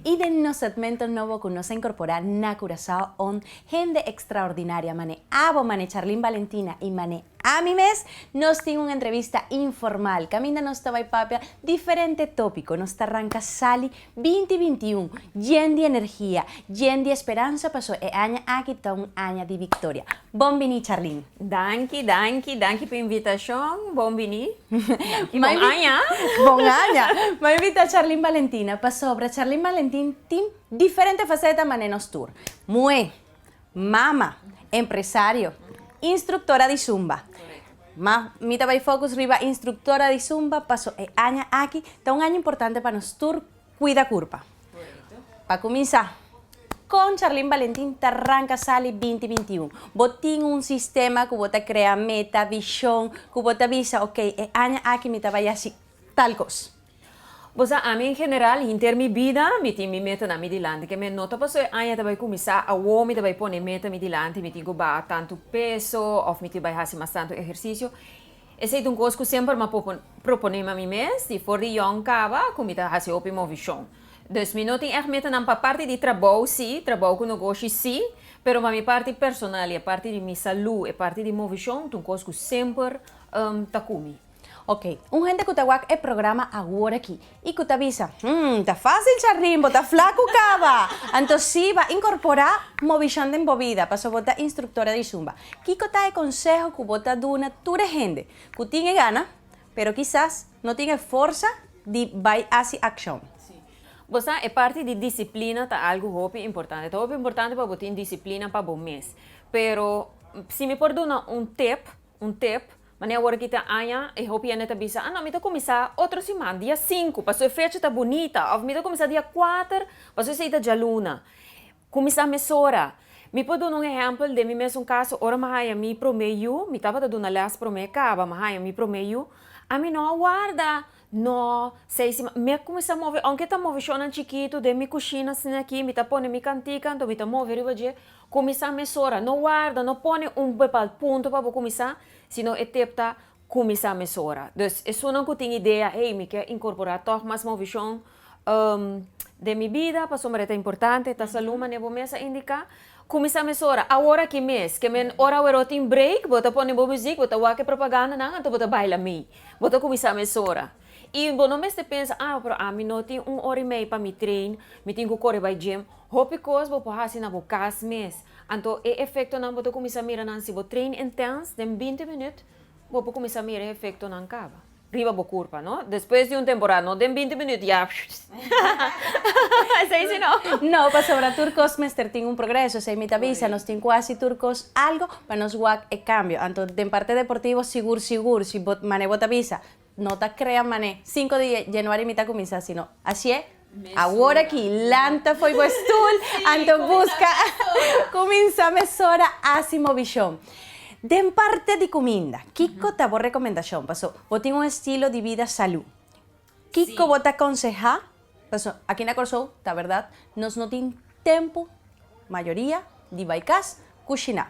I den nos segmento nobo ku nos a inkorporá na Curaçao on hende ekstraordinaria manera abo, manera Charlene Valentina i manera ami mes, nos tin un entrevista informal kaminda nos ta bai papia diferente tópiko. Nos ta ranka sali Binti binti un, yen di energia, yen di esperansa paso e aña aki ta un aña di biktoria. Bon bini Charlene. Danki, danki, danki pa invitashon. Bon bini. Danki, bon aña. Bon aña. M'a invitá Charlene Valentina pasobra Charlene Valentin tin diferente faseta mané nos tur. Muhé. mama, empresario, instruktora di Zumba. Ma mi ta bai fokus riba instruktora di Zumba paso e aña aki ta un aña importante pa nos tur kuida kurpa. Pa kuminsá, kon Charlene Valentin ta ranka sali binti binti i un? Bo tin un sistema ku bo ta krea meta, vishon, ku bo ta bisa, ok, e aña aki mi ta bai hasi tal kos. Bo sa ami en general hinter mi bida mi tin mi metanan mi dilanti ke mi no ta paso e aña ta bai kuminsá awor mi ta bai pone meta mi dilanti mi tin ku baha tantu peso òf mi tin bai hasi mas tantu ehersisio esei ta un kos ku semper mi a proponémi a mi mes di for di yòn kaba ku mi ta hasi hopi movishon dus mi no tin ègt metanan pa parti di trabou si trabou ku nogoshi si pero pa mi parti personal i e parti di mi salú e parti di movishon ta un kos ku semper ta ku mi. Ok, un hende cu ta wak e programa awor aki y cu ta bisa, Hm, ta facil cha Rimbo, ta flacu caba! Anto siba, incorpora Movishan den bo vida, pasobra bo ta instructora di Zumba. Kico ta e conseho cu bo ta duna tur e hende cu tin e gana, pero kisas no tin e forsa di bay haci accion? Bo sa, e parti di disciplina ta algo hopi importante. Ta hopi importante pa bo tin disciplina pa bo mes. Pero, si mi por duna un tip, Un tip, Mane awor aki ta aña e hopi hende ta bisa, Ah no, mi ta kuminsá otro siman, dia sinku, pasobra e fecha ta bunita, òf mi ta kuminsá dia kuater, pasobra esei ta djaluna. Kuminsá mesora. Mi por duna un ehèmpel den mi mes un kaso. Ora mi haña mi promé yu, mi tabata duna lès promé kaba, mi haña mi promé yu, ami no a warda No, Seisi, ma mi a kuminsá move, ounke ta moveshonnan chikitu den mi kushina asina aki, mi ta pone mi kantika, anto mi ta move riba dje, kuminsá mesora, no warda, no pone un bepald punto pa bo kuminsá, sino e tep ta, kuminsá mesora. Dus, esunnan ku tin idea, hey, mi ke inkorporá tòg mas moveshon, Um, den mi bida, pasobra e ta importante, ta salú, manera bo mes a indiká. Kuminsá mesora, awor aki mes, ke men ora aweró tin breik, bo ta pone bo muzik, bo ta wak e propagandanan, anto bo ta baila mei. Bo ta kuminsá mesora. I bo no mester pensa, ah, pero ami no tin un ora i mei pa mi train, mi tin ku kore bai gym. Hopi kos bo por hasi na bo kas mes. Anto e efektonan bo ta kuminsá mira nan si bo train intens, den binti minüt bo por kuminsá mira e efektonan kaba. Riba bo kurpa no. Despues di un temporada no den binti minüt ya shhhhhhhhhhhh esei si no. No, pasobra tur kos mester tin un progreso, esei mi ta bisa, nos tin ku hasi tur kos algu pa nos wak e kambio. Anto den parte deportivo sigur sigur si bo mané bo ta bisa no ta krea mané sinku di Januari mi ta kuminsá sino ashié, Awor aki, lanta fo'i bo stul, anto buska kuminsá mesora hasi movishon. Den parte di kuminda, kiko ta bo rekomendashon paso bo tin un estilo di bida salú? Kiko bo ta konsehá? Paso aki na Kòrsou, ta bèrdat, nos no tin tempu, mayoria, di bai kas kushiná.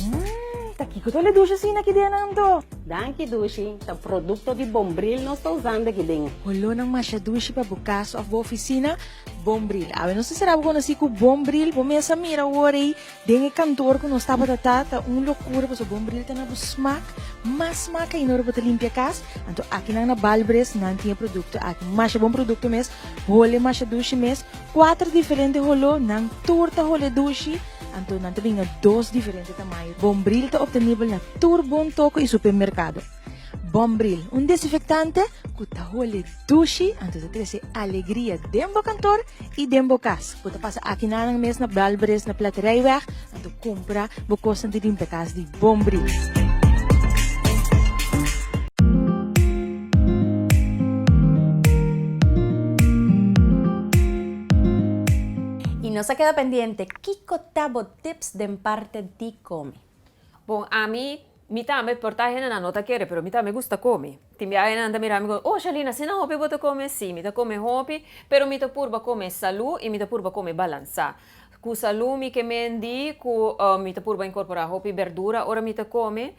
Mmm, ta kiko ta ole dushi asina aki den anto? Danki dushi, ta produkto di Bombril nos ta usando aki den. Olornan masha dushi pa bo kas òf bo ofisina? Bombril. Awe nos ta sera bo konosí ku Bombril. Bo mes a mira awor ei den e kantoor ku nos tabata ta, ta un lokura pasobra Bombril ta na bo smak, mas smak ainda ora bo ta limpia kas. Anto akinan na Balbres nan tin e produkto aki. Masha bon produkto mes, hole masha dushi mes. Kuater diferente holó, nan tur ta hol'é dushi, anto nan ta bin na dos diferente tamayo. Bombril ta optenibel na tur bon toko i supermerkado. Bombril, un desinfektante ku ta hol'é dushi, anto ta trese alegria den bo kantor i den bo kas. Bo ta pasa aki na nan mes na Balbres na Platerijweg, Anto compra bo cosnan di limpia cas di bon bris. Y nos a keda pendiente kiko ta bo tips den parte di come. Bon, ami Mi tambe por ta hendenan no ta kere pero mi tambe gusta komi. Tin bia hendenan ta mira mi komi oh Shalina asina hopi bo ta komi si mi ta komi hopi pero mi ta purba komi salu i mi ta purba komi balansa ku salu mi ke mendi ku mi ta purba inkorpora hopi berdura ora mi ta komi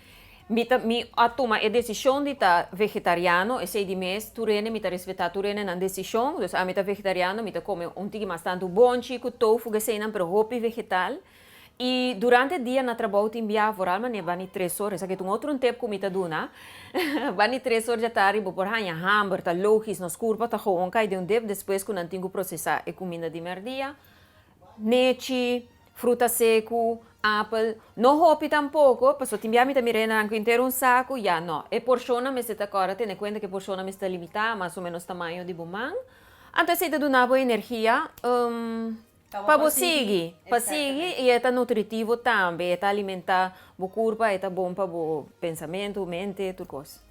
mi ta mi a tuma e desishon di ta vegetariano esei di mes tur hende mi ta respetá tur hende nan desishon dus ami ta vegetariano mi ta komi un tiki mas tantu bonchi ku tofu ku eseinan pero hopi vegetal. I durante dia na trabou tin biaha foral manera bani tres or, esaki ta un otro un tep ku mi ta duna, bani tres or dja tardi bo por haña hamber, ta logis nos kurpa ta gowon kai den un dep despues ku nan tin ku prosesá e kuminda di mèrdia, nechi, fruta seku, apel, no hopi tampoko, pasobra tin biaha mi ta mira e naranku entero un saku, ya no, e porshonnan mester ta kòrda tene kuenta ku e porshonnan mester ta limitá, mas o menos tamaño di bo man, anto esei ta duna bo energia. Pa bo sigui, pa sigui y e ta nutritivo tambe, e ta alimenta bo curpa, e ta bon pa bo pensamento, mente, tur cos.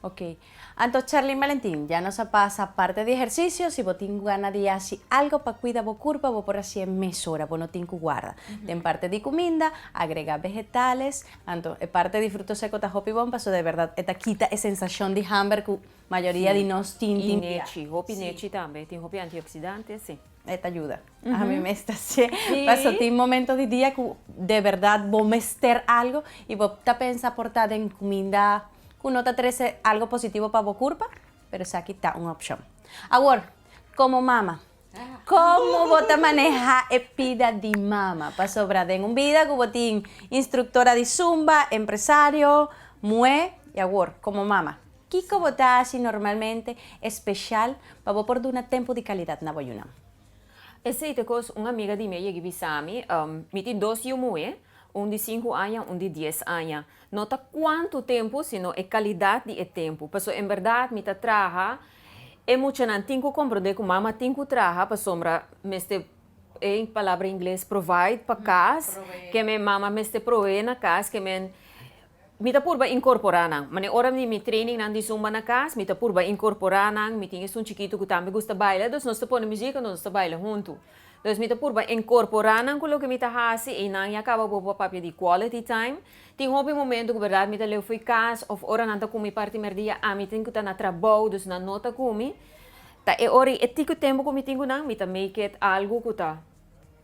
Ok. Anto Charlene Valentin, ya nos a pasa parte di ehercicio, si bo tin gana di haci algo pa cuida bo curpa bo por haci'e mesora, bo no tin cu guarda. Den parte di cuminda, agrega vegetales, anto e parte di fruto seco ta hopi bon pasobra de verdad e ta kita e sensacion di hamber cu mayoria di nos tin tin día. Y nechi, hopi nechi tambe, tin hopi antioxidantes, si. E ta yuda. Ami mes ta hasié. Paso tin momento di dia ku de berdad bo mester algu i bo ta pensa por ta den kuminda ku no ta trese algu positivo pa bo kurpa, pero esaki ta un opshon. Awor, komo mama, komo bo ta manehá e pida di mama? Pasobra den un bida ku bo tin instruktora di zumba, empresario, muhé i awor komo mama. Kiko bo ta hasi normalmente espeshal pa bo por duna tempu di kalidat na bo yunan? Esei ta e kos un amiga di mi a yeg'e bisa mi. Mi tin dos yu muhé, un di sinku aña, un di dies aña. No ta kuantu tempu, sino e kalidat di e tempu. Pasobra en bèrdat mi ta traha, e muchanan tin ku komprondé ku mama tin ku traha pasobra mester, e palabra ingles provide pa kas, ke men, mama mester proveé na kas, ke men. Mi ta purba incorpora nan. Mane ora di mi training nan di zumba na cas, mi ta purba incorpora nan. Mi tin esun chikitu cu tambe gusta baila, dus nos ta pone musica, nos ta baila huntu. Entonces mi ta purba incorpora nan cu loke mi ta haci y nan ya caba bobo a papia di quality time. Tin hopi momento cu berdad mi ta leu fo'i cas of ora nan ta cumi parti merdia, ami tin cu ta na trabou, dus nan no ta cumi, ta e ora y e tico tempo cu mi tin cu nan, mi ta make it algo cu ta.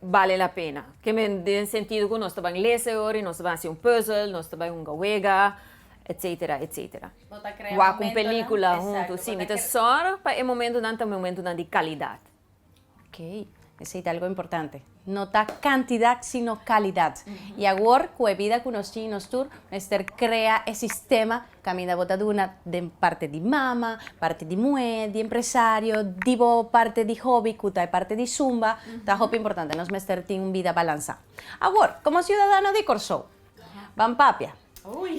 bale la pena. Ke men den sentido ku nos ta ban lese ora i nos ta ban hasi un puzzle, nos ta bai hunga wega, etc. Etc. Bo ta krea Wak un momentonan, pelikula exacto, huntu. bo Si, ta mi ta kre- sòr pa e momentunan ta momentunan di kalidat. Ok, esei ta algu importante. No ta kantidat sino kalidat. I awor ku e bida ku nos tin nos tur mester krea e sistema Kaminda bo ta duna den parti di mama, parti di muhé, di empresario, di bo parti di hobby ku ta e parti di Zumba, ta hopi importante. Nos mester tin un bida balansá. Awor, komo siudadano di Kòrsou, ban papia.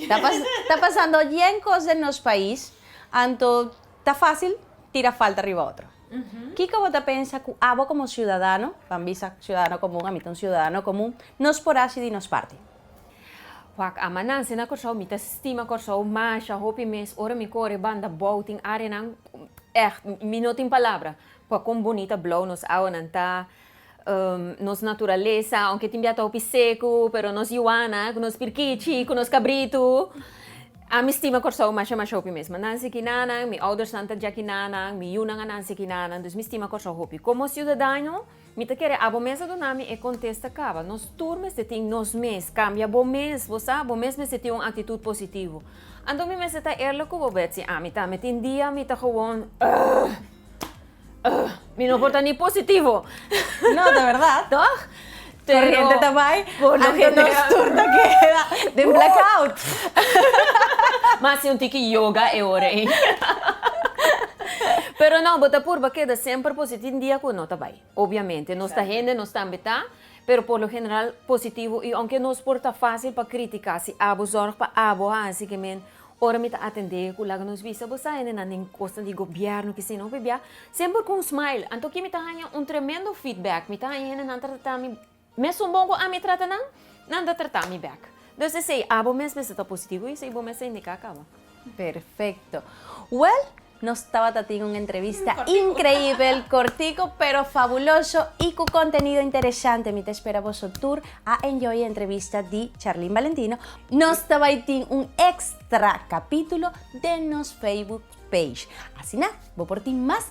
Ta pasando yen kos den nos pais, anto ta fásil tira falta riba otro. Kiko bo ta pensa ku abo komo siudadano, ban bisa siudadano komun, ami ta un siudadano komun, nos por hasi di nos parti? Wak ama nan sena Kòrsou mi ta stima Kòrsou masha hopi mes ora mi kore banda bou tin arenan ègt mi no tin palabra pa kon bonita blou nos awanan ta nos naturalesa aunke tin biata hopi seku pero nos yuana ku nos pirkichi ku nos kabritu a mi stima Kòrsou masha masha hopi mes ma nan si ki nanan mi oudersnan ta dja ki nanan mi yunan a nan si ki nanan dus mi stima Kòrsou hopi komo siudadano Mi ta kere abo mes a duna mi e kontesta kaba. Nos tur mester tin nos mes, kambia bo mes, bo sa, bo mes mester tin un aktitut positivo. Anto mi mester ta eerlijk ku bo Betsy, ami ta, mi tin dia mi ta gewoon ugh, ugh, mi no por ta ni positivo. No, ta verdad. Toch? Pero, Corriente ta bai, por lo anto nos general- tur ta keda den blackout. Mas si un tiki yoga e ora ei. Pero no, bo ta purba keda semper positivo. Tin dia cu no ta bay. Obviamente nos ta hende, nos tambe ta, pero por lo general positivo y aunke nos por ta facil pa critica si abo zorg pa abo a haci que men ora mi ta atende cu laga nos bisa bo sa hendenan den cosnan di gobierno ki si no p'ebia semper cu un smile anto aki mi ta haya un tremendo feedback mi ta haya hendenan ta tratami Mesun bon ku ami trata nan, nan ta trata mi bèk. Dus esei abo mes mester ta positivo i esei bo mester indiká kaba. Perfekto. Wèl, nos tabata tin un entrevista inkreibel, kortiko pero fabuloso i ku kontenido interesante. Mi ta spera boso tur a enjoy e entrevista di Charlene Valentino. Nos ta bai tin un èkstra kapítulo den nos Facebook page. Asina bo por tin mas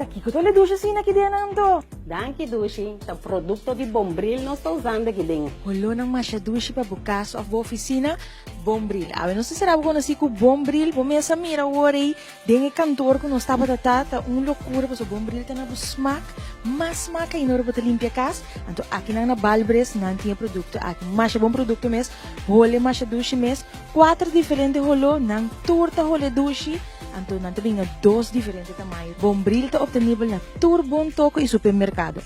Ta kiko ta ole dushi asina ki dianan to? Danki Dushi, ta produkto di Bombril nos ta usando aki den. Olornan masha dushi pa bo kas òf bo ofisina? Bombril. Awe nos ta sera bo konosí ku Bombril. Bo mes a mira awor ei den e kantor ku nos tabata ta, ta un lokura pasobra Bombril ta na bo smak, mas smak aina ora bo ta limpia kas. Anto akinan na Balbres nan tin e produkto aki. Masha bon produkto mes, hole masha dushi mes. Kuater diferente holó, nan tur ta hol'é dushi, anto nan ta bin na dos diferente tamaño. Bombril ta optenibel na tur bon toko i supermerkado.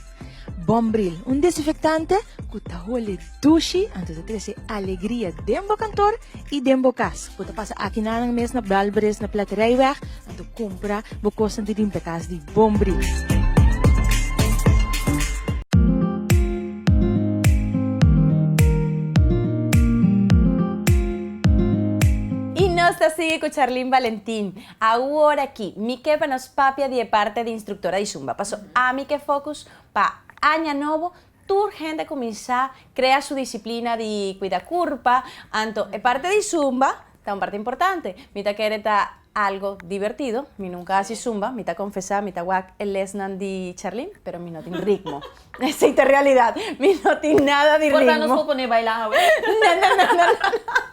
Bombril, un desinfektante ku ta hol'é dushi, anto ta trese alegria den bo kantor i den bo kas. Bo ta pasa akinanan mes na Balbres na Platerijweg, Anto compra bo cosnan di limpiakas di bon bris. Y nos ta sigui cu Charlene Valentin. Awor aki, mi ke pa nos papia di e parte di instructora di Zumba. Paso ami ke focus pa aña nobo, tur hende cuminsa crea su disciplina di cuida curpa, anto e parte di Zumba ta un parte importante. Mi ta kere ta. Algo divertido, mi nunca a haci zumba, mi ta confesa, mi ta wak e lesnan di Charlene, pero mi no tin ritmo. Esey ta realidad, mi no tin nada di ritmo. Por ta nos por pone baila awe? No, no, no, no, no, no.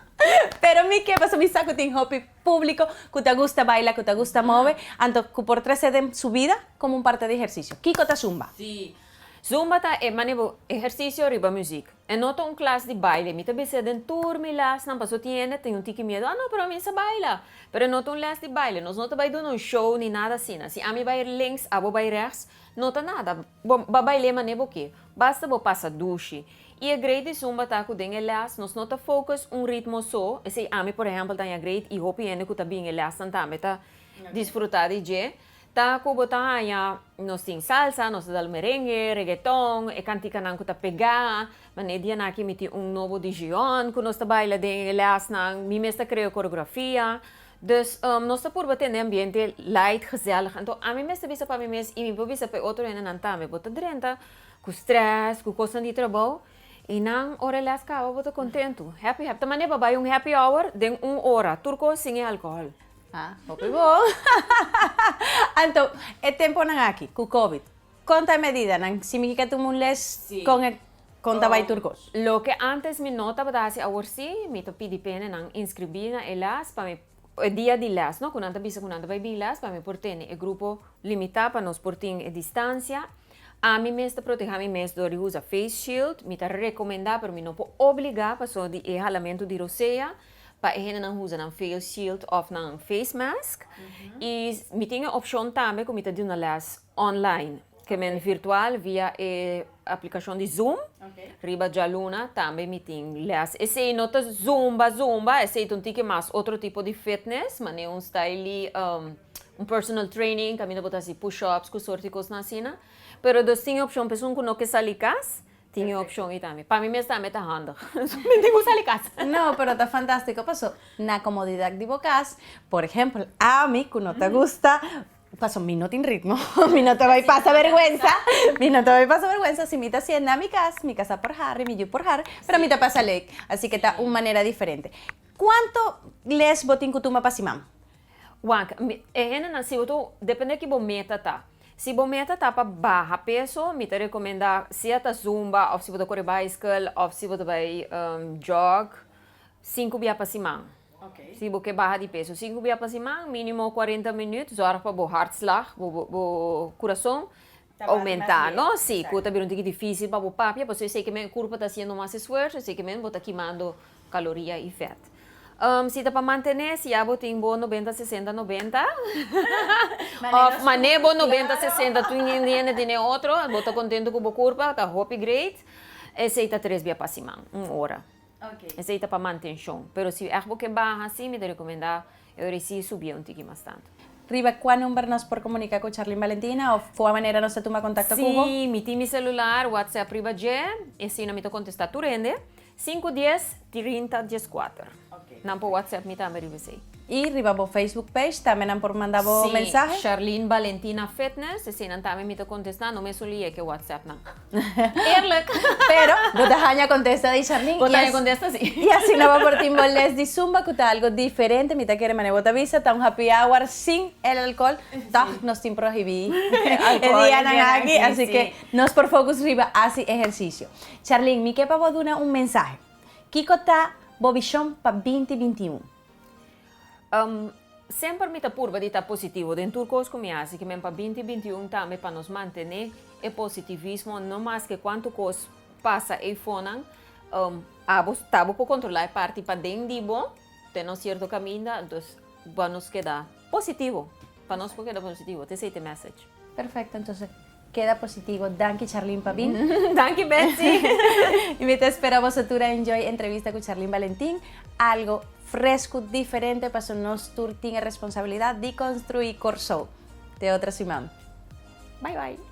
Pero mi ke paso mi sa cu tin hopi publico cu ta gusta baila, cu ta gusta move, anto cu por trace den su vida como un parte di ehercicio. Kico ta zumba? Si, Zumba ta e manebo ehersisio riba muzik. E no ta un klas di baile. Mi ta bisa den tur mi lesnan, paso tin hende tin un tiki miedu, ah no, pero ami sa baila. Pero e no ta un les di baile. Nos no ta bai duna un show ni nada asina. Si ami bai links, abo bai rechts, no ta nada. Bo ba bail'é manera bo ke. Basta bo pasa dushi. I e great di zumba ta ku den e les nos no ta focus un ritmo so, esei ami por ehempel ta ña great i hopi hende ku ta bin e lesnan tambe ta disfruta di dje. Ta cu bo ta haña nos tin salsa, nos ta dal merengue, reggaeton, e canticanan cu ta pega. Mane e dianan aki mi tin un nobo dijion cu nos ta baila den e lesnan. Mi mes ta crea coreografia. Dus nos ta purba tende ambiente light, gezellig. Anto ami mes ta bisa pa mi mes y mi por bisa pa e otro hendenan tambe, bo ta drenta cu stress, cu cosnan di trabou y nan ora e les caba bo ta contento. Happy, happy. Ta mane pa bay un happy hour den un ora, tur cos sin e alcohol. Ha, hopi bon! Anto, e temponan aki cu Covid, con ta e medidanan si mi kier tuma un les con e con ta bay tur cos? Loke antes mi no tabata haci awor si, mi ta pidi penenan inscribi na e les pa mi, e dia di les no, cu nan ta bisa cu nan ta bay bin les, pa mi por tene e grupo limita pa nos por tin e distancia. Ami mes ta proteha mi mes door di usa face shield, mi ta recomenda pero mi no por obliga pasobra di e halamento di rosea. Pa e hendenan huza nan face shield of nan face mask. Y mi tin e opcion tambe cu mi ta duna les online. Ke men virtual via e aplicacion di zoom. Riba djaluna tambe mi tin les. Esey no ta zumba zumba, esey ta un tiki mas otro tipo di fitness, mane un styli, un personal training, caminda bo ta haci push ups cu sorti cosnan asina. Pero nos tin e opcion, pesonan cu no ke sali cas, Tin e opshon ei tambe. Pa mi mes tambe ta handig. Mi tin ku sali kas. No, pero ta fantastiko paso na komodidat di bo kas, por ehempel, ami ku no ta gusta, paso mi no tin ritmo, mi no ta bai pasa berguensa, mi no ta bai pasa berguensa, si mi ta sienta mi kas, mi kas a por hari, mi yu por hari, pero mi ta pasa leuk, asike ta un manera diferente. Kuanto les bo tin ku tuma pa siman? Wak, E hendenan si bo ta, depende ki bo meta ta. Si bo meta ta pa baha peso, mi ta rekomenda sea ta zumba of si bo ta kore bicycle of si bo ta bai jog, sinku bia pa siman. Si bo ke baha di peso sinku bia pa siman, minimo kuarenta minüt, zorg pa bo hartslag, bo kurason, ta oumenta, no? Sí, cu ta bira un tiki dificil pa bo papia, pasobra esey ke men curpo ta haciendo mas esfuerzo, esey ke men bo ta kimando caloria y vet. Um, si ta pa mantene, si ya bo tin bo nobenta, sesenta, nobenta, of mane bo nobenta, sesenta, tu nin di hende tene otro, bo ta contento cu bo curpo, ta hopi great, esey ta tres bia pa siman, un ora. Esey ta pa mantencion. Pero si echt bo ke baha, sí, mi ta recomenda E ora i si i subia un tiki mas tantu. Riba kua number nos por komunika ku Charlene Valentina òf kua manera nos ta tuma kontakto ku bo? Si mi tin mi selular whatsapp riba dje, asina mi ta kontestá tur hende. Sinku dies trinta dieskuater. Nan por whatsapp mi tambe riba esei. I riba bo Facebook page tambe nan por manda bo mensahe? Si, Charlene Valentina Fitness, eseinan tambe mi ta kontestá, no mesun lié ku e whatsappnan. Eerlijk! Pero, bo ta haña contesta di Charlene. Bo ta haña contesta, si. Y asina bo por tin bo les di zumba cu ta algo diferente. Mi ta kere mane bo ta bisa, ta un happy hour sin el alcohol. Tog nos tin prohibi e dianan aki, así que nos por focus riba haci ehercicio. Charlene, mi ke pa bo duna un mensahe. Kico ta bo vision pa binti binti i un? Um, semper mi ta purba di ta positivo den tur kos ku mi hasi kimen pa 2021 tambe pa nos mantené e positivismo no mas ke kuantu kos pasa ei fonan um, abo tabo por kontrolá e parti pa den di bo te no sierto kaminda entos bo nos keda positivo pa nos por keda positivo te sei te message. Perfecto, entonces Keda positivo danki Charlene pa bin. Danki Betsy. Y mi ta spera boso tur a enjoy entrevista cu Charlene Valentin, algo frescu, diferente paso nos tur tin e responsabilidad di construi Corsou. Te otro siman. Bye bye.